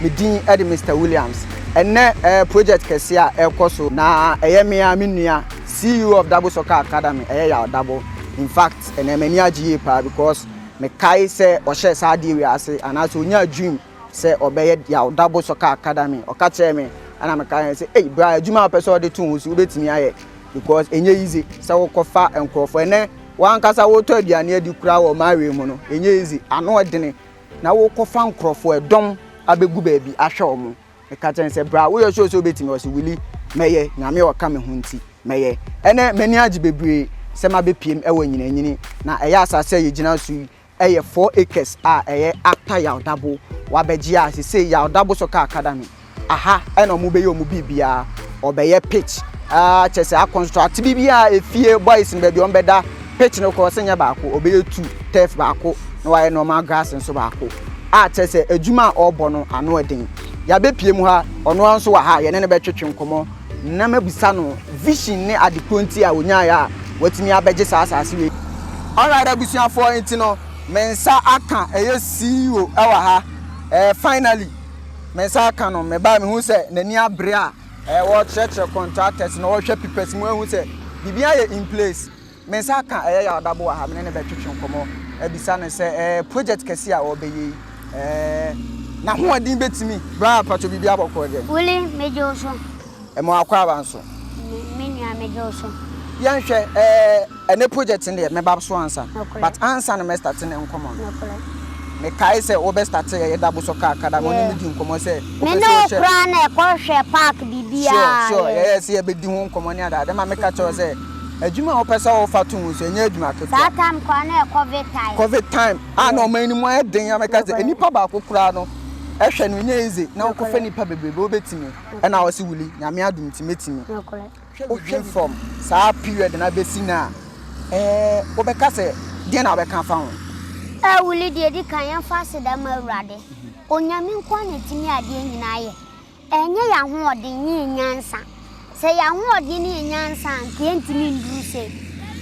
me din de mr williams ɛnɛ ɛɛ eh, project kɛse a ɛrekɔ so na ɛyɛ mmea me nua ceo of dabo soccer academy ɛyɛ yɛ dabo in fact ɛnɛ m'ani agye yie paa because Mekae sɛ ɔhyɛɛ saa adeɛ wei ase anaasɛ ɔnyaa dream sɛ ɔbɛyɛ Yaw-Dabo Soccer Academy. Ɔka kyerɛɛ me ɛna mekae sɛ, Ei bra, adwuma a wopɛ sɛ wode to wo ho so wobɛtumi ayɛ because ɛnyɛ easy sɛ wokɔfa nkurɔfoɔ. Ɛnnɛ w'ankasa wotɔ aduane adi koraa wɔ Marwei mu no, ɛnyɛ easy, ano ɛdene na wokɔfa nkurɔfoɔ, ɛdɔm abɛgu baabi ahwɛ wɔn. meka kyerɛ no sɛ bra woyɛ sure sɛ wobɛtumi ɔse wili mɛyɛ nyame ɔka me ho nti mɛyɛ ɛnɛ m'ani agye bebree sɛ mabɛpiem ɛwɔ nyinanyini na ɛyɛ asase a yɛgyina so yi ɛyɛ 4 acres a ɛyɛ after yawdabo wabɛgye a sese yawdabo so kaa kada no aha ɛna ɔmo bɛyɛ ɔmo biribiara ɔbɛyɛ pitch ɛɛ kyɛ sɛ akɔnstrate biribiara efie boys no baabi ɔmo bɛda Pitch no course nyɛ baako, ɔbɛyɛ two, turf baako na wayɛ normal grass nso baako a kyerɛ sɛ adwuma a ɔrebɔ no ano ɛden. Yɛabɛpie mu ha, ɔno ara nso wɔ ha, yɛne no bɛtwetwe nkɔmmɔ na mabisa no vision ne ade korɔ nti a ɔnyaeɛ a watumi abɛgye saa asase wei. Alright abusuafoɔ, nti no me nsa aka ɛyɛ CEO wɔ ha, finally me nsa aka no, me ba mehu sɛ n'ani abere a ɔrekyerɛkyerɛ contractors na ɔrehwɛ papers mu ahu sɛ biribiara yɛ in place. Me nsa aka ɛyɛ yaw da bo wɔ ha, me ne no bɛtwetwe nkɔmmɔ abisa no sɛ ɛɛ project kɛse a ɔrebɛyɛ yi ɛɛ n'ahoɔden bɛtumi. Bra mpakyɛw biribi abɔ kɔ dɛn? Willy, Megye wo so. Ɛma wakɔ aba nso? Me me nua megye wo so. Yɛnhwɛ ɛɛ ɛnɛ project no deɛ mɛba so ansa Nokorɛ. but ansa na mɛ start ne nkɔmmɔ no Nokorɛ. mekae sɛ wobɛ start ɛyɛ da bo so kaakada no wo ne Yeah. me di nkɔmmɔ sɛ Me wopɛ ne sɛ wo wohyɛ koraa na ɛkɔ hwɛ park biribiaa Sure sure yeah. yɛyɛ sɛ yɛbɛdi ho nkɔmmɔ ne adeade ma meka kyerɛ wo sɛ Adwuma a wopɛ sɛ wofa to ho nso, ɛnyɛ adwuma ketewa. Saa time koraa na ɛyɛ covid time. Covid time a na ɔman no mu ayɛ den a mɛka sɛ nipa baako koraa no ɛhwɛ no nyɛ easy na wokɔfa nipa bebrebe wobɛtumi ɛna wɔ se wuli nyame adom nti mɛtumi. Wohwɛ from saa period no abɛsi no a ɛɛ wobɛka sɛ deɛ na wobɛka afa ho? Ɛɛ wuli deɛ ɛdi kan yɛmfa aseda ma awurade onyame nkoa na ɛtumi adeɛ nyinaa yɛ. Ɛnyɛ yɛn ahoɔden ne yɛn nyansa. Sɛ yɛn ahoɔden ne yɛn nyansa a, anka yɛrentumi nnuru sei.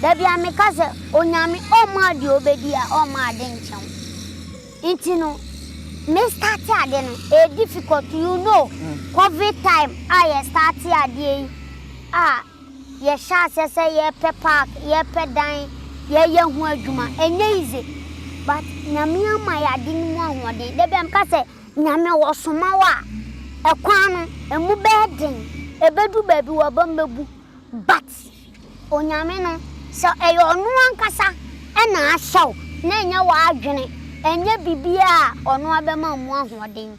Da biara meka sɛ, Onyame ɔmmaa deɛ ɔbɛdi a, ɔmmaa ade nkyɛ wo. Nti no, me starte ade no, ɛyɛ difficult. You know, Covid time a yɛ starte adeɛ yi a, yɛhyɛɛ aseɛ sɛ yɛrepɛ park, yɛrepɛ dan, yɛreyɛ ho adwuma. Ɛnyɛ easy. But Nyame ama yɛn ade no mu ahoɔden. Da biara meka sɛ, Nyame wɔsoma wo a, ɛkwan no ɛmu bɛyɛ den, ɛbɛduru baabi w'abam bɛbu, but Onyame no sɛ ɛyɛ Ɔno ankasa na ahyɛ wo na ɛnyɛ w'adwene, ɛnyɛ biribiara a Ɔno ara bɛma wo mu ahoɔden.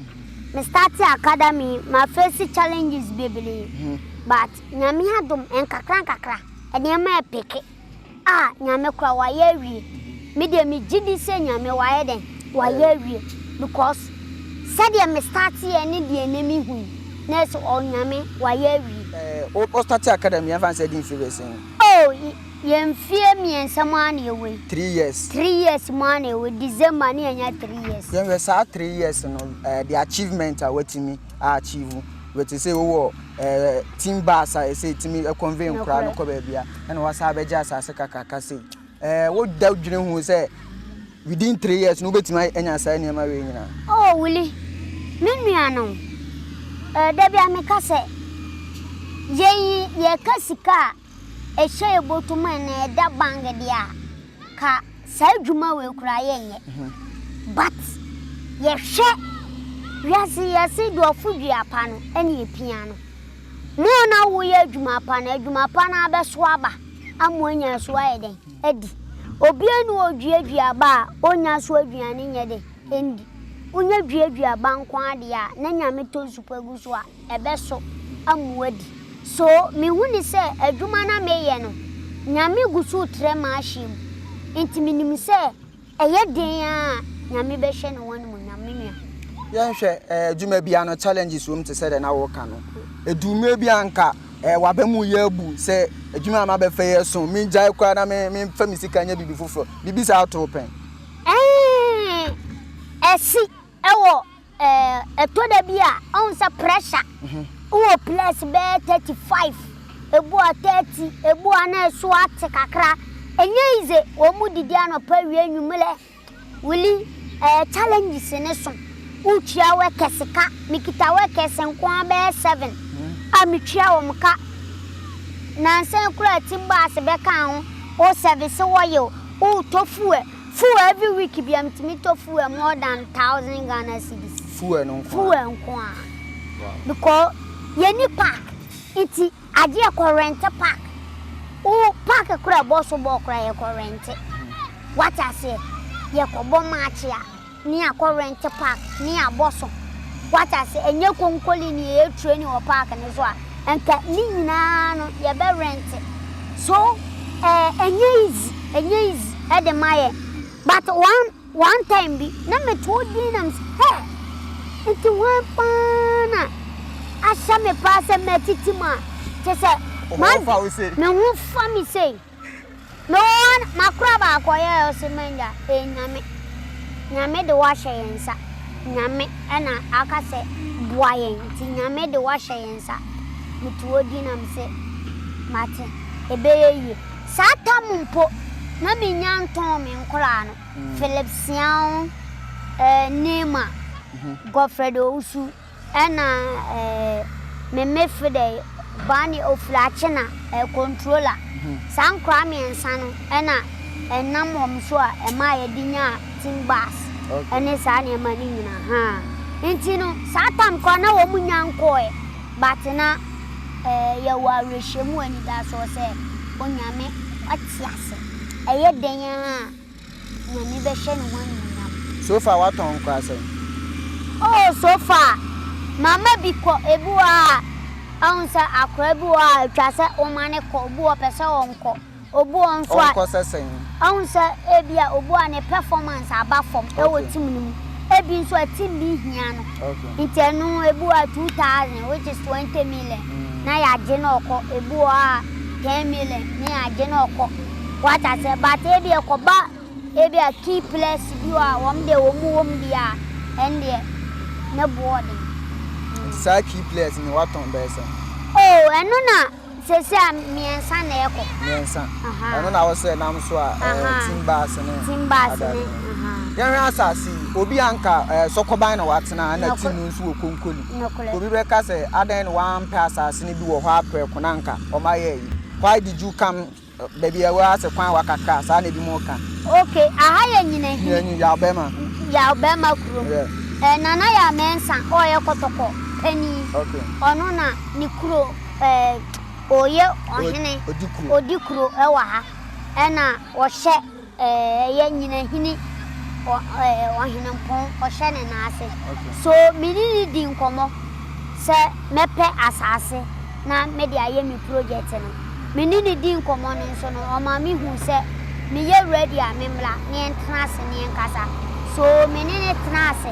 Me starte academy yi, ma face challenges bebree, but Nyame adom, nkakra nkakra nneɛma ɛpeke. Ah Nyame koraa wayɛ awie me deɛ me gye di sɛ Nyame wayɛ dɛn wayɛ awie because sɛdeɛ me start yɛ ne deɛ ɛnɛ me hu yi na yɛ sɛ ɔɔ Nyame wayɛ awie. Ɛɛ wo start academy yɛn fa no sɛ ɛdi mfie bɛɛ sɛn? Oh yɛ mfie mmiɛnsa mu ara na yɛ wɔ yi. Three years. Three years mu ara na yɛ wɔ yi December na yɛ nya three years. Yɛn hwɛ saa three years no ɛɛ the achievement a watumi. a achieve wei te sɛ wowɔ ɛɛ eh, team bus a ɛsɛ ɛtumi convey nkora no kɔ baabi a ɛna wasan abɛgye asase kakraka sei ɛɛ eh, woda dwene ho sɛ within three years no wobɛtumi anya saa nneɛma wei nyinaa. oh wuli me nua no ɛɛ eh, da bi a meka sɛ yɛyi yɛka sika a ehyɛɛ bɔtɔ mu a na ɛda bank deɛ a, ka saa adwuma wei koraa yɛnyɛ. But yɛhwɛ wiase yi yɛse deɛ ɔfo dua pa no ɛna epia no. Mo a na woyɛ adwuma pa no, adwuma pa no ara bɛso aba ama woanya so ayɛ dɛn? Adi. Obiara nni hɔ a oduadua aba a onnya so aduane nyɛ dɛn? Nni. Wonya duadua aba nko ara deɛ a, na Nyame tɔ nsu pa gu so a. ɛbɛso amu adi. So mehu no sɛ adwuma no a mereyɛ no, Nyame gu so retrɛ m'ahyeɛ mu? Enti menim sɛ ɛyɛ den ara a, Nyame bɛhyɛ no ho animuonyam, me nua. Yɛnhwɛ adwuma bi ano challenges wɔ mu te sɛ deɛ na woreka no. Ɛduru mmerɛ bi a anka w'aba mu yɛ abu sɛ adwuma a mabɛfa yi ɛso, mengyae koraa na memfa me sika nyɛ biribi foforɔ. Biribi saa to wo pɛn? Ɛɛn, ɛsi wɔ Ɛtɔ da bi a, ɔhu sɛ pressure wɔ place bɛyɛ thirty five, ebu a thirty, ebu a na ɛso ate kakra. Ɛnyɛ easy, wɔn didi anɔpa wie anwummerɛ. Wili, ɛyɛ challenges ne so. Wotua workers ka, mekita workers nko ara bɛyɛ seven a metua wɔn ka. Nansa yi koraa team bus bɛka ho, wo service oil, wotɔ fuel. Fuel every week bia metumi tɔ fuel more than thousand Ghana cedis. Fuel no nko a. Fuel nko a. Wow. Because yɛni park nti agye yɛ kɔ rente park. Wo park kora bɔso bɔɔ kora yɛ kɔ rente. Wate aseɛ yɛ kɔ bɔ match a. Ne yɛakɔ rent park ne yɛabɔ so. Wate ase? Ɛnyɛ konkolini a yɛ training wɔ park no so a anka ne nyinaa no yɛbɛ rent. So ɛɛ ɛnyɛ easy, ɛnyɛ easy ɛde ma yɛn. But one one time bi na me to wo din na me se hɛ! Nti hwan paa na ahyɛ me paa sɛ mɛtete mu a kyerɛ sɛ Wo ho fa wo sei. Me ho fa me sei. Mewɔ hɔ no, makora baako ɔyɛ a ɔse manya ee Nyame, Nyame de wo ahyɛ yɛn nsa, Nyame ɛna aka sɛ boa yɛn nti Nyame de wo ahyɛ yɛn nsa, meto wo din na mese mate, ɛbɛyɛ yie. Saa tam mpo na menya ntɔn me nkoraa no, Philip Siaw, ɛɛ Neymar, Godfred Owusu. Ɛna eh, me me fre dɛ Boane Ofurache na eh, Controller. Saa nkoraa mmiɛnsa no ɛna ɛnam wɔn so a ɛmaa yɛde nyaa team bus ɛne saa nneɛma no nyinaa haa. Nti no saa tam koraa na wɔn nnya nkɔɔɛ but na eh, yɛwɔ awerɛhyɛmu, anidasoɔ sɛ Onyame wate ase. Ɛyɛ dɛn ara a. N'ani bɛhyɛ ne ho anuonyam. Sofa watɔn nkora sɛn. Oh sofa mama bi kɔ ebi wɔ hɔ a ɛhu sɛ akora bi wɔ hɔ a ɛtwa sɛ woma ne kɔ obi wɔ hɔ pɛ sɛ ɔnkɔ obi wɔ hɔ nso a ɔnkɔ sɛ sɛn ɛhu sɛ ebi a obi wɔ hɔ a ne performance aba fam ɛwɔ team no mu ebi nso a team bi hia no nti ɛno ebi wɔ hɔ a two thousand which is twenty million na yɛagye na ɔkɔ ebi wɔ hɔ a ten million ne yɛagye na ɔkɔ. Wate aseɛ but ebi ɛkɔba ebi a key players bi hɔ a wɔn deɛ wɔn wɔ mu deɛ a ɛndeɛ ne boɔ den. Nti saa key players no watɔn bɛyɛ sɛn? Oh ɛno na sɛsɛ a mmiɛnsa na ɛkɔ. Mmiɛnsa. Ɛno na wosɛ nam so a ɛɛ team bass ne. Team bass ne. Yɛnhwɛ asase yi obi a nka ɛɛ sɔkɔban na watena ɛna team no nso wɔ konkoli. Nɔkorɛ. Obi bɛka sɛ adɛn na wampɛ asase no bi wɔ hɔ aprɛko na nka wɔn ayɛ yi. Why did you come? Baabi a ɛwɔ ase kwan wakakra saa na ebinom ka. Ok aha yɛ nyinahini. Nyinahini yaw bɛma. Yaw bɛma kurom. Yeah. Nana yaw mɛnsa ɔyɛ kɔtɔkɔ panin. Ok. Ɔno na ne kuro ɛɛ ɔyɛ ɔhene. Odi kuro. Odi kuro ɛwɔ ha ɛna ɔhyɛ. Ɛyɛ nyinahene ɔhenempɔn ɔhyɛ ne nan ase. So me ne no di nkɔmmɔ sɛ mɛpɛ asase na mede ayɛ me projɛte no? Me ne no dii nkɔmmɔ no nso no, ɔma mehuu sɛ meyɛ ready a memmra na yɛntena ase na yɛnkasa. So me ne no tenaa ase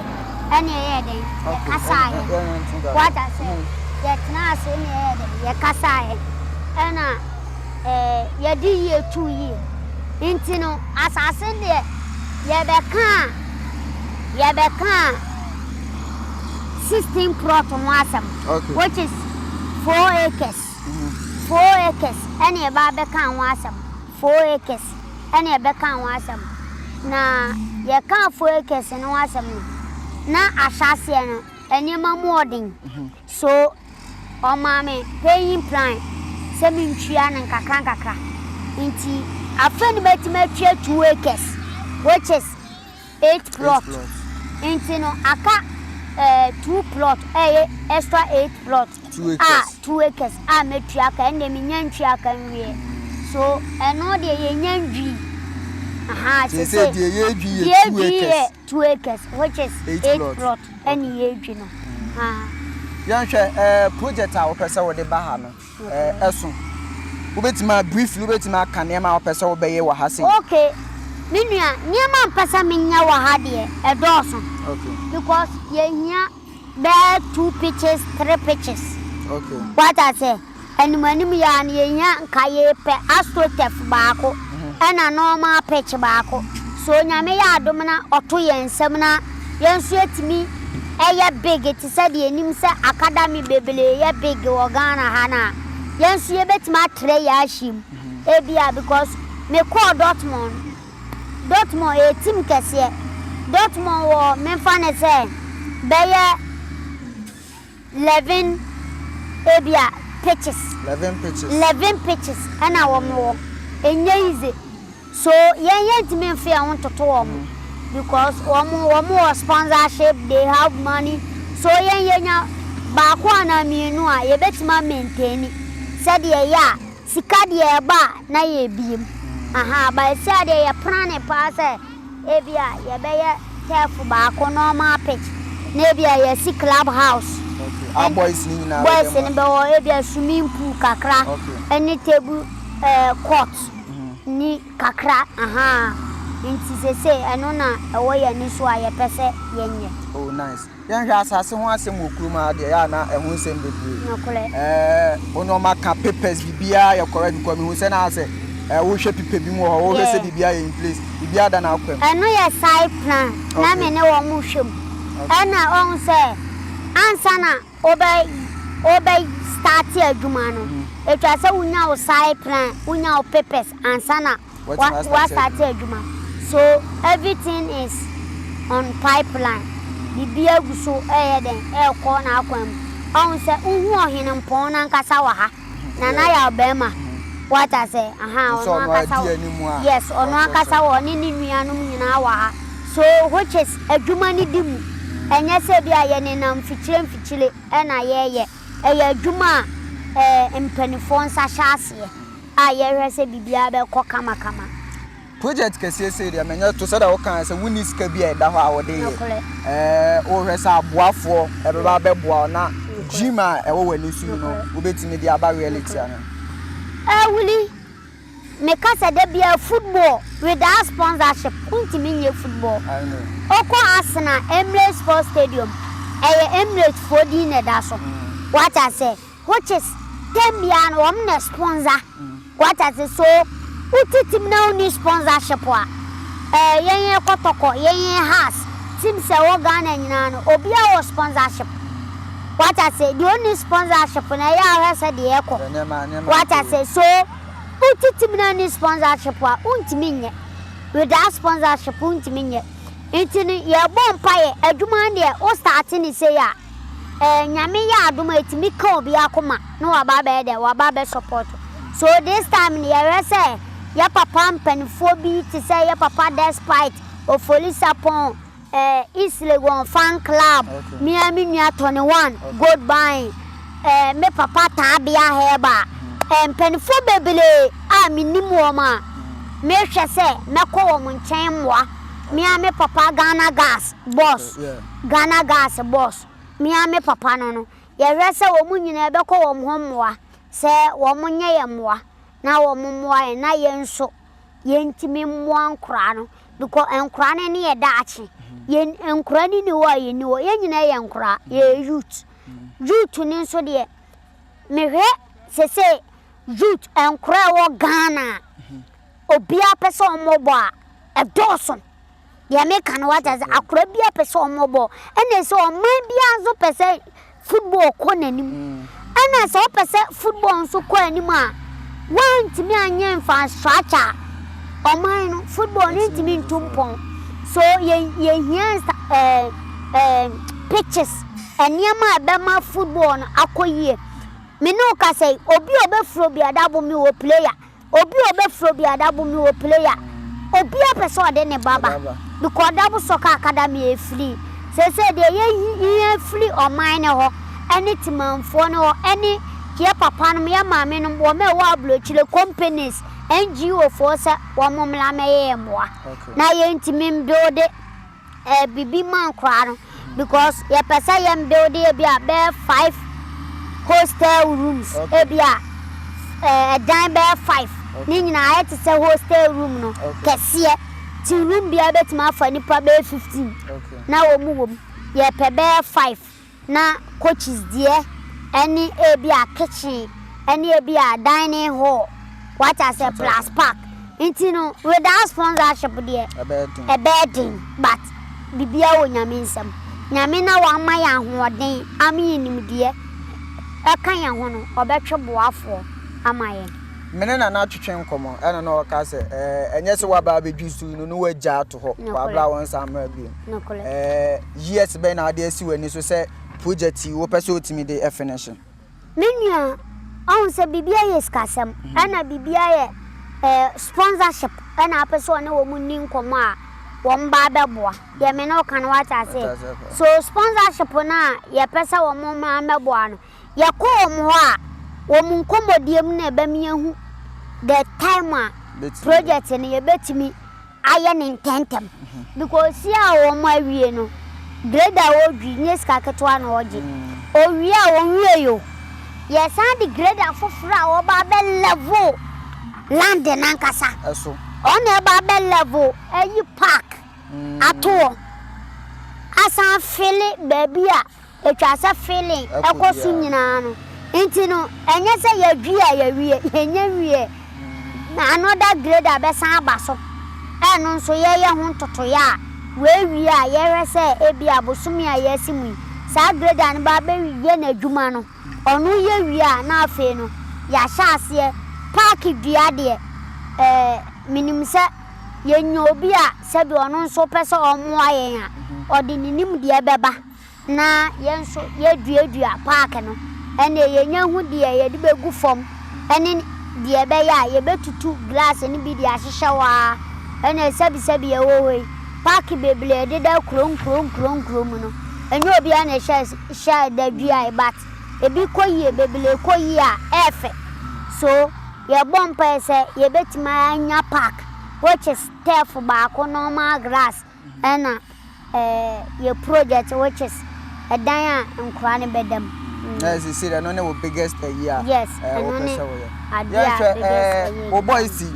na yɛyɛɛ dɛn? Yɛkasaeɛ. Woate aseɛ? Yɛtenaa ase na yɛyɛɛ dɛn? Yɛkasaeɛ. Ɛnna. yɛde yie tu yie. Nti no, asase no deɛ, yɛbɛka a, yɛbɛka sixteen plot ho asɛm, which is four acres. Four acres ɛna yɛba abɛka ho asɛm. Four acres ɛna yɛbɛka ho asɛm. Na yɛka four acres no ho asɛm no, na ahyɛaseɛ no, nneɛma mu ɔden. So ɔmaa me paying plan sɛ mentua no nkakrankakra nti afei no mɛtumi atua two acres which is eight plot nti no aka eh, two plot a ɛyɛ extra eight plot a two acres a mɛtua aka ɛnna menya ntua ka nwie so ɛno deɛ yɛnya ndwii aha sɛ sɛ deɛ yɛdwi yɛ Two acres which is eight plot ɛne yɛredwi no. Yɛnhwɛ ɛɛ project a wopɛ sɛ wode ba ha no ɛɛ ɛso. Wobɛtumi a briefly wobɛtumi aka nneɛma a wopɛ sɛ wobɛyɛ wɔ ha sei. Okay, me nua nneɛma a mpɛ sɛ menyɛ wɔ ha deɛ ɛdɔɔso. Okay. Because yɛhia. Bɛyɛ two pitches, three pitches. Okay. What I say? Anim anim yɛ a na yɛhia nka yɛpɛ astrotef baako mm-hmm. ɛna normal pitch baako. So nyame yɛ adom na ɔto yɛn nsam na yɛn nso yɛtumi ɛyɛ big te sɛ deɛ nim sɛ academy bebree yɛ big wɔ Ghana ha na yɛn nso yɛbɛtumi atrɛ yɛ ahyem. Mm-hmm. Ebia because mekɔɔ Dortmund Dortmund yɛ team kɛseɛ. Dortmund wɔ memfa no sɛ bɛyɛ 'leven ebia pitches, 'leven pitches na wɔn wɔ. Ɛnyɛ easy. So yɛn yɛntumi mfa yɛn ho ntoto wɔn because wɔn wɔn wɔ sponsorship, they have money. So yɛn yɛnya baako anaa mmienu a yɛbɛtumi a maintain sɛdeɛ ɛyɛ a. Sika deɛ ɛba a na yɛbiem ahaa but seesei deɛ yɛ plane paa sɛ ebia yɛbɛyɛ turf baako normal pitch na ebia yɛasi club house ɛne boys no bɛwɔ ebia swimming pool kakra ɛne table ɛɛ court ni kakra ahaa nti seesei ɛno na ɛwɔ yɛn ani so a yɛpɛ sɛ yɛnyɛ. Oh nice. Yɛnhwɛ asase ho asɛm wɔ kurom ha deɛ yɛ a na ɛho nsɛm bebree. Nokorɛ. Ɛɛ wo nneɛma ka papers biribiara yɛ correct because mehu sɛ na sɛ ɛɛ wohwɛ pipa bi mu wɔ hɔ wohwɛ sɛ Yeah. biribiara yɛ in place biribiara da n'akwan mu. Ɛno yɛ side plan na Okay. me ne wɔn hwɛ mu. Okay. Ɛna ɔhu sɛ ansa na wobɛ wobɛ start adwuma no, etwa sɛ wonya wo side plan, wonya wo papers ansa na Woastate adwuma? So everything is on pipeline? Biribiara gu so reyɛ dɛn, rekɔ n'akwan mu? Ɔhu sɛ wohu Ɔhenempɔn no ankasa wɔ ha, Nana yɛ ɔbarima. Woate aseɛ? Aha, ɔno ankasa wɔ ha. Yes, ɔno ankasa wɔ ɔne ne nuanom nyinaa wɔ ha. So which is adwuma no di mu. Ɛnyɛ sɛ ebia yɛnenam mfikyire mfikyire na yɛreyɛ. Ɛyɛ adwuma a ɛɛ mpanimfoɔ nsa hyɛ aseɛ. a yɛhwɛ sɛ biribiara bɛkɔ kamakama. Project kɛseɛ sei deɛ menyɛ to sɛdeɛ wokaeɛ sɛ wonni sika bi a ɛda hɔ a wode yɛ. Nokorɛ. Eh, wohwɛ sɛ aboafoɔ ɛbɛba abɛboa wo na Nokorɛ. dream a ɛwɔ w'ani so yi no Nokorɛ. wobɛtumi de aba reality ano. Eh, Willie, meka sɛ da biara football without sponsorship wontumi nyɛ football. I know. Wokɔ Arsenal Emirates Sports Stadium, ɛyɛ Emirates foɔ din na ɛda so. Woate aseɛ? which is term biara no wɔn na sponsor wate ase so wote team na wonni sponsorship a ɛɛ yɛn yɛn kɔtɔkɔ yɛn yɛn has teams a ɛwɔ Ghana nyinaa no obiara wɔ sponsorship wate ase deɛ onni sponsorship na ɛyɛ ahwɛ sɛ deɛ ɛkɔ wate ase so wote team na onni sponsorship a wontumi nyɛ without sponsorship wontumi nyɛ nti no yɛbɔ mpaeɛ adwuma no deɛ wo start ne sei a Ɛɛ Nyame yɛ adom a ɛtumi ka obi akoma na waba abɛyɛ dɛn? Waba abɛ support wo. So this time no yɛhwɛ sɛ yɛ papa mpaninfoɔ bi te sɛ yɛ papa Despite, Ofori Sarpong, ɛɛ East Legon Fan Club, me ara me nua Tony One, Gold Bine, ɛɛ me papa Taabea Herba, ɛɛ mpaninfoɔ bebree a menim wɔn a mehwɛ sɛ mɛkɔ wɔn nkyɛn mmoa, me ara me papa Ghana Gas, Boss. Ghana gas boss, me ara me papa no no, yɛhwɛ sɛ wɔn nyinaa yɛbɛkɔ wɔn hɔ mmoa sɛ wɔnyɛ yɛn mmoa na wɔmmoa yɛn na yɛn nso yɛntumi mmoa nkwadaa no because nkwadaa no ne yɛn daakye. Yɛn nkwadaa no nni hɔ a yɛn nni hɔ. Yɛn nyinaa yɛ nkwadaa, yɛyɛ youth. Youth no nso deɛ, mehwɛ seesei youth nkwadaa a ɛwɔ Ghana a obiara pɛ sɛ wɔbɔ a, ɛdɔɔso. deɛ meka no wate ase akora biara pɛ sɛ ɔmo bɔ ɛna sɛ ɔman biara nso pɛ sɛ football kɔ n'anim ɛna sɛ ɔpɛ sɛ football nso kɔ anim a wantumi anyɛ infrastructure ɔman no football no ntumi ntu mpɔn so yɛ yɛhia ɛɛ ɛɛ pitches nneɛma a ɛbɛma football no akɔ yie me ne wo kasa yi obi a ɔbɛfuro bi adabo mi wɔ player. Obi a ɔbɛfrɛ obi adabo me wɔ player obi a pɛ sɛ ɔde ne ba ba because dabo soccer academy ɛfiri seisei deɛ yɛ hia firi ɔman no hɔ ɛne temanfoɔ no hɔ ɛne yɛ papa nom yɛ maame nom wɔn a ɛwɔ abrokyire companies NGO foɔ sɛ wɔn mmra mɛyɛ yɛ mmoa na yɛntumi mbuilde Ɛyɛ biribi ma nkoraa no because yɛpɛ sɛ yɛn building ebi a bɛyɛ five hostel rooms ebi a ɛdan bɛyɛ five ne nyinaa ayɛ te sɛ hostel room no kɛseɛ ti room biara bɛtumi afa nipa bɛyɛ fifteen na wɔn wɔ mu yɛpɛ bɛyɛ five. na coaches deɛ ɛne ebia kitchen ɛne ebia dining hall wate aseɛ plus park nti no without sponsorship deɛ ɛbɛyɛ den but biribiara wɔ nyame nsam nyame na wama yɛ ahoɔden ama yɛ nimdeɛ ɛka yɛn ho no ɔbɛtwe boafoɔ ama yɛn. Me ne Nana twetwe nkɔmmɔ ɛna na ɔka sɛ ɛɛ ɛnyɛ sɛ waba abɛdwo su yi no na wagya ato hɔ wabra wɔnsan mmra bio. nokorɛ. Years bɛn na wode asi w'ani so sɛ project yi wopɛ sɛ wotumi de finish? Me nua, wahu sɛ biribiara yɛ sikasɛm ɛna biribiara yɛ sponsorship ɛna apɛ sɛ ɔne wɔn nni nkɔmmɔ a wɔn ba abɛboa. Deɛ me ne wo ka no wate aseɛ? So sponsorship no a yɛpɛ sɛ wɔn mmra mmɛboa no, Yɛkɔ wɔn hɔ a, wɔn nkɔmmɔdie mu na yɛbɛma yɛahu the time a project no yɛbɛtumi ayɛ no ntɛntɛm because si a wɔn awie no, grade a wɔdwi nyɛ sika ketewa na wɔgye. Wɔwie a, wɔwie o, yɛsan de grade afoforɔ a wɔba abɛ level land no ankasa. Wɔn na ɛba abɛ level ayi park ato hɔ, asan fele baabi a Etwa sɛ feeling kɔ so nyinaa no nti no ɛnyɛ sɛ yɛdwi a yɛwie, yɛnnya nwieɛ na another grade abɛsan aba so a ɛno nso yɛyɛ ho ntotoeɛ a woawie a yɛhwɛ sɛ ebia bosome a yɛasi mu yi saa grade a no ba bɛyɛ n'adwuma no ɔno yɛ wie a na afei no yɛahyɛ aseɛ pack dua deɛ eh, menim sɛ yɛnya obi a sɛbi ɔno nso pɛ sɛ ɔmmoa yɛn a ɔde ne nimdeɛ bɛba. na yɛn nso yɛduadua paake no, ɛnneɛ yɛnya hu deɛ yɛde bɛgu fam ne deɛ ɛbɛyɛ a yɛbɛtutu glass no bi de ahyehyɛ hɔ ara, ɛnna sɛbisɛbi ɛwɔ hɔ yi, paake bebree a ɛdeda nkuro nkuro nkuro nkuro mu no, ɛnyɛ obiara na ɛhyɛ hyɛ da duaeɛ but ebi kɔ yie, bebree kɔ yie a ɛyɛ fɛ. So yɛbɔ mpaeɛ sɛ yɛbɛtumi anya paake which is turf baako, normal grass Ɛna yɛ project which is ɛdan a nkwadaa no bɛda mu. Ɛna sɛ sɛ ɛno ne wo biggest ayi a wopɛ sɛ woyɛ. Yɛn sɛ ɛɛ wo boys yi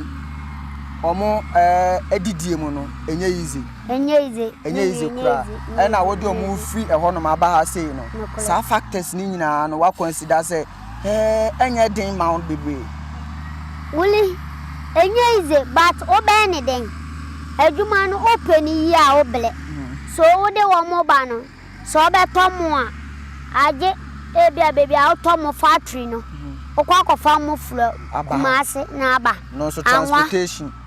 ɔmo ɛɛ didie mu no ɛnyɛ easy. Ɛnyɛ easy. Ɛnyɛ easy kura. Ɛna wode ɔmo firi ɛhɔ nom aba ha sei no saa factors ne nyinaa no wa consider sɛ. He ɛnyɛ den ma wo bebree. Wuli, Ɛnyɛ easy but wo bɛyɛ ne dɛn? Adwuma no wo pɛ no yie a wo blɛ. So wo de wɔn ba no, sɛ wo bɛ tɔ mo a, agye ebia baabi a wo tɔ mo factory no, wo kɔ akɔ fa mo fura Kumasi na aba. Anwa,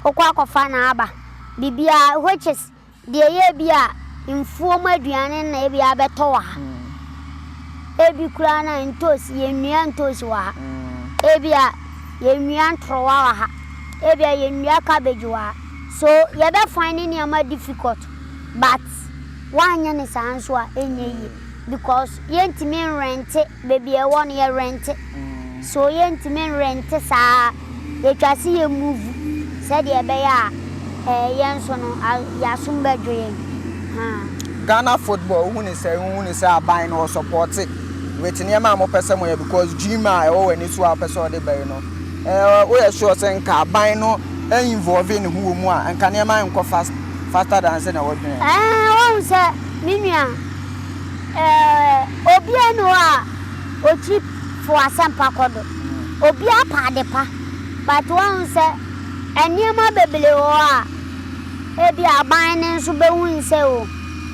wo kɔ akɔ fa na aba. Biribiara which is. Deɛ ɛyɛ bi a mfuo mu aduane na ebi abɛtɔ wɔ ha. Ebi koraa no a ntoosi, yɛnnua ntoosi wɔ ha. Ebia yɛnnua ntorowa wɔ ha. Ebia yɛnnua cabbage wɔ ha. So yɛbɛ find ne nneɛma difficult? But woanyɛ no saa nso a ɛnyɛ yie because yɛntumi nrente Baabi a ɛwɔ no yɛ rente so yɛntumi nrente saa yɛtwa se yɛ move sɛdeɛ ɛbɛyɛ a ɛɛ yɛn nso no yɛasom bɛdwo yɛn haa. Ghana football wohu ne sɛn wohu ne sɛ aban no ɔsɔpɔte with nneɛma a mopɛ sɛ moyɛ because dream a ɛwɔ w'ani so a wopɛ sɛ ɔde bɛn no ɛɛ woyɛ sure sɛ nka aban no involve ne ho wɔ mu a nka nneɛma nkɔ fast faster than sɛ na wɔdwene. Ɛɛ wohu sɛ me nua. Eeh obiaa nni hɔ a otwi to asɛmpa kɔ do. Obiaa pɛ ade pa but woahu sɛ nneɛma bebree wɔ hɔ a ebia aban no nso behu no sɛ o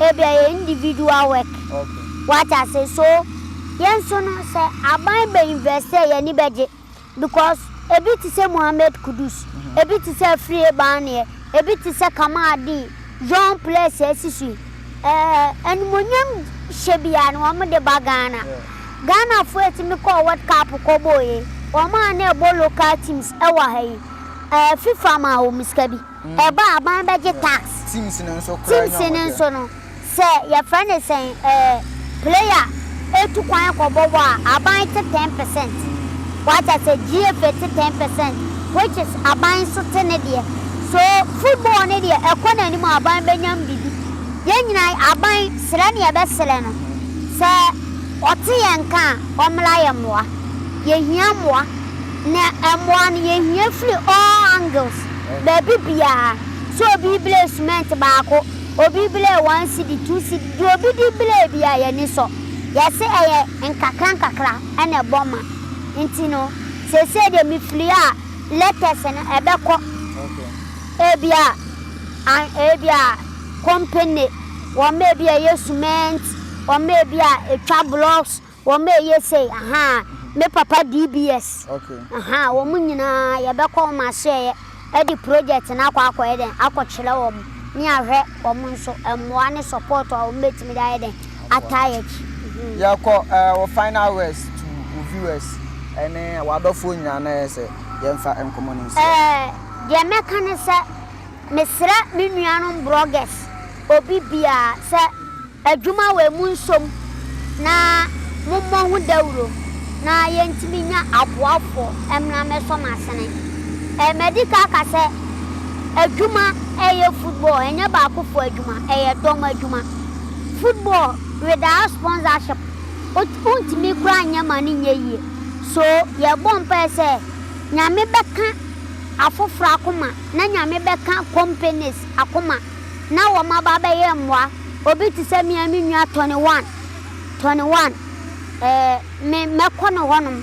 ebia ɛyɛ individual work. Wate ase? So yɛn nso no sɛ aban bɛ invest a yɛn ani bɛgye. because ebi te sɛ Mohammed Kudus, ebi te sɛ Afriyie Barnea, ebi te sɛ Kamal Deen, John Plessie asi so yi, ɛɛ animuonyam hyɛ biara no wɔn de ba Ghana. Ghanafoɔ a ɛtumi kɔɔ World Cup kɔbɔɔɛ yi, wɔn a na ɛbɔ local teams ɛwɔ ha yi, ɛɛ FIFA maa wɔn sika bi. Ɛbɔ a aban bɛgye tax. Teams no nso koraa nya wɔn deɛ. Teams no nso no, sɛ yɛfrɛ no sɛn ɛɛ player tu kwan kɔ bɔ bɔ a, aban te ten percent. Wate aseɛ? GFA te ten percent which is aban nso te ne deɛ. So football no deɛ ɛkɔ n'anim a aban bɛnyam biribi. Yɛn nyinaa, aban srɛ ne yɛbɛsrɛ no, sɛ ɔte yɛn nka a, ɔmmra yɛn mmoa. Yɛhia mmoa. Na mmoa no, yɛhia firi all angles. Baabi biara, sɛ obi blee sumɛnt baako, obi blee one cedi, two cedi, deɛ obi de blee biara, yɛn ani sɔ. Yɛse ɛyɛ nkakra nkakra na ɛbɔ ma nti no, seesei deɛ mefiri a, letters no ɛbɛkɔ ebia an ebia company, wɔn a ebia ɛyɛ sumɛnt, wɔn a ebia ɛtwa blocks, Wɔma ɛyɛ sei ahaa me papa DBS ahaa wɔn nyinaa yɛbɛkɔ wɔn asoɛeɛ ɛde project no akɔ akɔyɛ dɛn akɔkyerɛ wɔn ne ahwɛ wɔn nso mmoa ne support a wɔn bɛtumi de ayɛ dɛn ataa yɛ akyi. Yɛkɔ eh, wo final words to wo viewers ɛne w'adɔfoɔ nyinaa na yɛ sɛ yɛmfa nkɔmmɔ no nhyia. Eh, deɛ mɛka ne sɛ mesrɛ me nuanom brɔgɛs. obi biara sɛ adwuma wɔ mu nsom na mommɔ ho dawuro na yɛntumi nya aboafoɔ mmra mmɛsɔ mo asene. Ɛɛ madi ka aka sɛ adwuma ɛyɛ football ɛnyɛ baakofoɔ adwuma ɛyɛ dɔm adwuma. Football without sponsorship wot wontumi koraa nyɛ ma no nyɛ yie so yɛbɔ mpaeɛ sɛ Nyame bɛka afoforɔ akoma na Nyame bɛka companies akoma. na wɔaba abɛyɛ mmoa. Obi te sɛ me a me nua Tony Wan, Tony Wan, eh, me, mɛkɔ ne hɔnom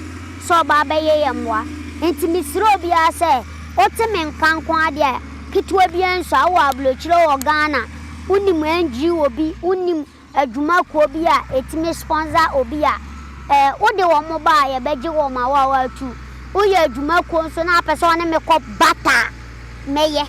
sɛ ɔba abɛyɛ yɛn mmoa. Enti mesrɛ obiara sɛ, wote me nka nko ara deɛ a, ketewa biara nsua. Wowɔ aburokyire wɔ Ghana, wonim NGO bi, wonim adwuma kuo bi a ɛtumi sponsor obi a eh wode wɔn ba a yɛbɛgye wɔn ma wo a woatu woyɛ adwuma kuo nso na wopɛ sɛ wɔne me kɔ bata a mɛyɛ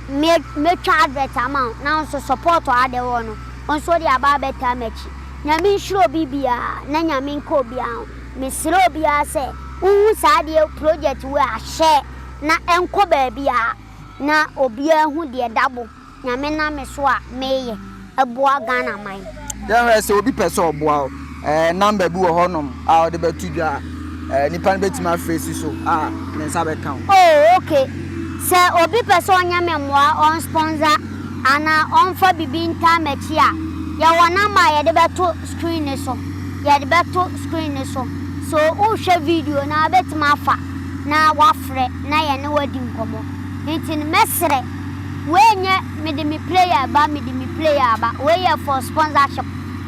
me mɛtwa advert ama wo na wo nso support a wode wɔ no wo nso wode aba abɛtaa m'akyi Nyame nhyira obi biara na Nyame nka obiara ho mesrɛ obiara sɛ wohu saa adeɛ project wei a share na ɛnkɔ baabiara na obiara hu deɛ dabo Nyame nam me so a meyɛ boa Ghana man. Yɛhwɛ sɛ obi pɛ sɛ ɔboa wo, ɛɛ number bi wɔ hɔ nom a ɔde bɛto dwa a, ɛɛ nipa no bɛtumi afrɛ si so a ne nsa bɛka wo. Oh ok, sɛ obi pɛ sɛ ɔnyɛ me mmoa, ɔn sponsor anaa ɔnfa bibi ntaa m'akyi a, yɛwɔ number a yɛde bɛto screen no so, yɛde bɛto screen no so, so wohwɛ video no a wobɛtumi afa na wafrɛ na yɛne wo adi nkɔmmɔ. Nti no mɛsrɛ. Wei nyɛ mede me prayer reba mede me prayer reba wei yɛ for sponsorship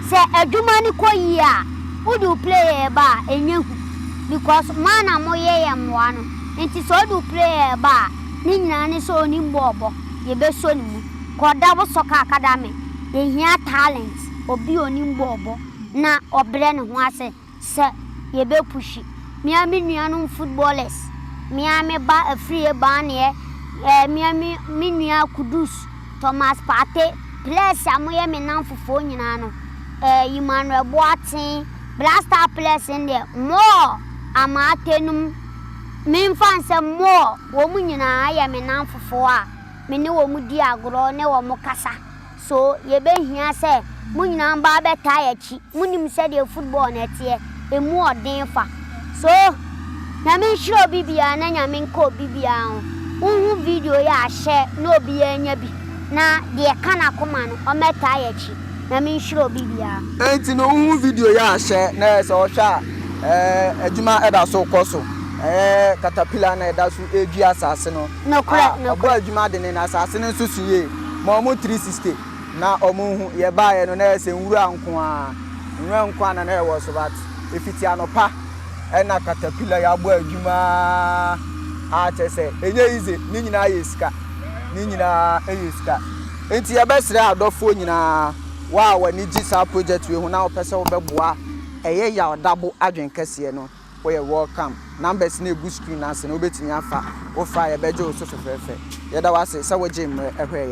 sɛ adwuma no kɔ yie a wode wo prayer reba a ɛnyɛ hu because mo ara na moyɛ yɛn mmoa no nti sɛ ɔde wo prayer reba a ne nyinaa ne sɛ ɔnim bɔ ɔbɔ yɛbɛsɔ ne mu kɔ da wo sɔ kaa ka da me yɛhia talent obi a ɔnim bɔ ɔbɔ na ɔbrɛ ne ho ase. sɛ yɛbɛ pushi me a me nuanom footballers me a me ba afiri Ebaneɛ eh me a me me nua Kudus, Thomas Partey, players a moyɛ me nnamfofoɔ nyinaa no eh Emmanuel Boateng Black Star players no deɛ more Amartey nom me mfa nsɛ more wɔn nyinaa yɛ me nnamfofoɔ a me ne wɔn di agorɔ ne wɔn kasa. So yebehia sɛ mo nyinaa ba abɛtaa yɛn akyi? Munim sɛdeɛ football no teɛ, ɛmu ɔden fa. So Nyame nhyira obi biara na Nyame nka obi biara ho. Wonhu video yi a, hyɛ na obiara nya bi, na deɛ ɛka n'akoma no, ɔmmɛtaa yɛn akyi. Nyame nhyira obi biara. Enti no wonhu video yi a, hyɛ na sɛ ɔhwɛ a, ɛɛ, adwuma da so rekɔ so. Ɛyɛ katapila na ɛda so redua asase no. Nokorɛ, nokorɛ. A, ɔbɔɔ adwuma dene, na asaase no nso so yie, maa wɔn tiri siste, na wɔhu. Yɛbaeɛ no, na ɛyɛ sɛ nwura nko ara, nwura nko ara na na ɛwɔ so, but ɛfiti anɔpa na caterpillar yi abɔ adwuma ara, a kyerɛ sɛ, ɛnyɛ easy, ne nyinaa yɛ sika, ne nyinaa yɛ sika. Enti yɛbɛsrɛ adɔfoɔ nyinaa, wo a w'ani gye saa project wei ho na wopɛ sɛ wobɛboa a, ɛyɛ yaw dabo adwene kɛseɛ no. Woyɛ welcome. Numbers no egu screen no ase no wobɛtumi afa. Wofa a yɛbɛgye wo so fɛfɛɛfɛ. Yɛda wo ase sɛ wogyee mmerɛ hwɛeɛ.